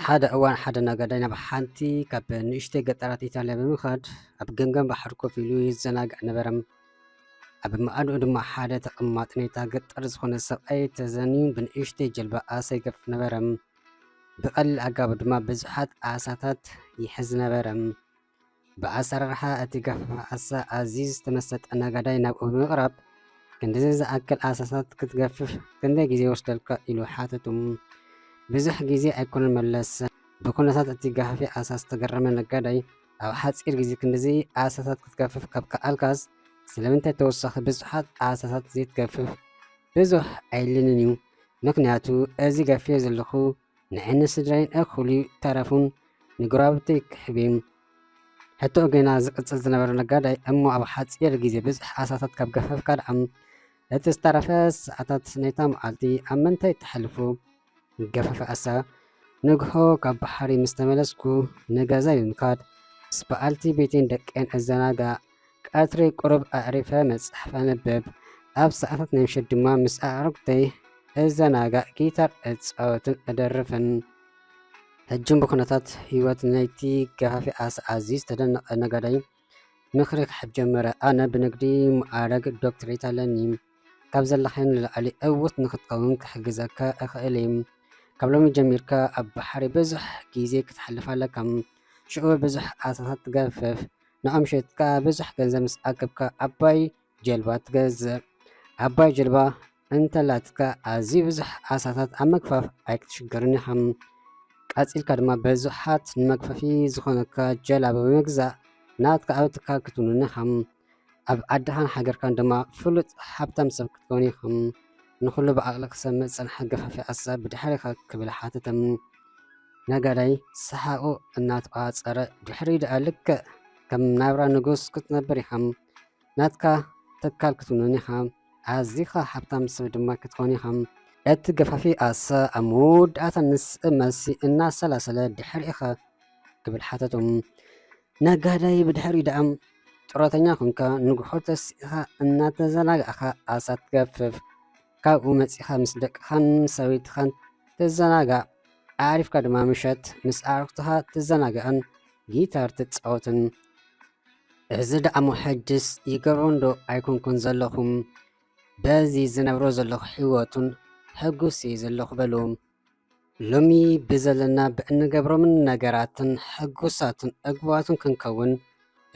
ሓደ እዋን ሓደ ነጋዳይ ናብ ሓንቲ ካብ ንእሽተይ ገጠራት ኢጣልያ ብምኻድ ኣብ ገምገም ባሕሪ ኮፍ ኢሉ ይዘናግዕ ነበረ። ኣብ መኣድኡ ድማ ሓደ ተቐማጢ ናይታ ገጠር ዝኾነ ሰብኣይ ተዘንዩ ብንእሽተይ ጀልባ ኣሰይገፍ ነበረ። ብቐሊል ኣጋብ ድማ ብዙሓት ኣሳታት ይሕዝ ነበረ። ብኣሰራርሓ እቲ ገፋፍ ኣሳ ኣዝዩ ዝተመሰጠ ነጋዳይ ናብኡ ብምቕራብ ክንድዚ ዝኣክል ኣሳታት ክትገፍፍ ክንደይ ግዜ ይወስደልካ ኢሉ ሓተቱ። ብዙሕ ግዜ ኣይኮነን መለሰ። ብኩነታት እቲ ገፋፊ ኣሳ ዝተገረመ ነጋዳይ ኣብ ሓፂር ግዜ ክንድዚ ኣሳታት ክትገፍፍ ካብ ከኣልካስ ስለምንታይ ተወሳኺ ብዙሓት ኣሳታት ዘይትገፍፍ? ብዙሕ ኣይድልንን እዩ። ምክንያቱ እዚ ገፊዮ ዘለኩ ንዕኒ ስድራይን እኩሊ ተረፉን ንጎራብተይ ክሕብም ሕቶ ገና ዝቅጽል ዝነበረ ነጋዳይ እሞ ኣብ ሓጺር ግዜ ብዝሕ ኣሳታት ካብ ገፈፍካ ድኣም እቲ ዝተረፈ ሰዓታት ናይታ መዓልቲ ኣብ ምንታይ ተሕልፉ ገፈፈ ኣሳ ንግሆ ካብ ባሕሪ ምስ ተመለስኩ ንገዛይ ብምካድ ምስ በዓልቲ ቤቴን ደቀን እዘናጋዕ ቀትሪ ቁሩብ ኣዕሪፈ መጽሓፍ ኣንብብ፣ ኣብ ሰዓታት ናይ ምሸት ድማ ምስ ኣዕሩኽተይ እዘናጋዕ፣ ጊታር እጻወትን እደርፍን። ሕጂ'ውን ብኩነታት ህይወት ናይቲ ገፋፊ ዓሳ ኣዝዩ ዝተደነቐ ነጋዳይ ምኽሪ ክሕብ ጀመረ። ኣነ ብንግዲ መኣረግ ዶክትሬት ኣለኒ። ካብ ዘለኻዮ ንላዕሊ ዕዉት ንኽትከውን ክሕግዘካ እኽእል እየ። ካብ ሎሚ ጀሚርካ ኣብ ባሕሪ ብዙሕ ግዜ ክተሕልፍ ኣለካ። ሽዑ ብዙሕ ዓሳታት ትገፍፍ። ንዖም ሸይጥካ ብዙሕ ገንዘብ ምስ ኣከብካ ዓባይ ጀልባ ትገዝእ። ዓባይ ጀልባ እንተላትካ ኣዝዩ ብዙሕ ዓሳታት ኣብ ምግፋፍ ኣይክትሽገርን ኢኻ። ቀጺልካ ድማ ብዙሓት ንመግፈፊ ዝኾነካ ጀላቡ ብምግዛእ ናትካ ኣብ ትካል ክትውንን ኢኻ። ኣብ ዓድኻን ሃገርካን ድማ ፍሉጥ ሃብታም ሰብ ክትከውን ኢኻ። ንኹሉ ብዓቕሊ ክሰምዕ ዝጸንሐ ገፋፊ ዓሳ ብድሕሪኻ ክብል ሓተተ። ነጋዳይ ሰሓቑ እናተቛጸረ፣ ድሕሪኡ ደኣ ልክዕ ከም ናብራ ንጉስ ክትነብር ኢኻ፣ ናትካ ትካል ክትውንን ኢኻ፣ ኣዚኻ ሓብታም ሰብ ድማ ክትኮን ኢኻ። እቲ ገፋፊ ኣሰ ኣብ መወዳእታ ንስእ መልሲ እናሰላሰለ ድሕሪኡኸ? ክብል ሓተቶ። ነጋዳይ ብድሕሪኡ ደኣ ጥሮተኛ ኮንካ ንጉሖ ተሲእኻ እናተዘናጋዕካ ኣሳ ትገፍፍ። ካብኡ መጺኻ ምስ ደቅኻን ሰበይትኻን ትዘናጋዕ፣ ኣዕሪፍካ ድማ ምሸት ምስ ኣዕሩኽትኻ ትዘናጋዕን ጊታር ትጻወትን። እዚ ደኣሞ ሕጅስ ይገብሮንዶ ኣይኮንኩን ዘለኹ፣ በዚ ዝነብሮ ዘለኹ ሕይወቱን ሕጉስ'የ ዘለኹ በሉ። ሎሚ ብዘለና ብእንገብሮምን ነገራትን ሕጉሳትን ዕጉባትን ክንከውን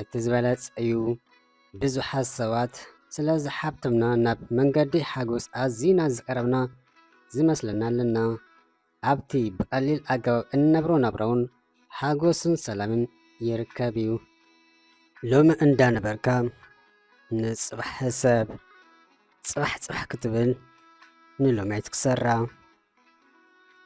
እቲ ዝበለጸ እዩ። ብዙሓት ሰባት ስለ ዝሓብተምና ናብ መንገዲ ሓጎስ ኣዚና ዝቐረብና ዝመስለና ኣለና። ኣብቲ ብቐሊል ኣገባብ እንነብሮ ናብራውን ሓጎስን ሰላምን ይርከብ እዩ። ሎሚ እንዳ ነበርካ ንጽባሕ ሕሰብ፣ ጽባሕ ጽባሕ ክትብል ንሎሚ ኣይትክሰራ።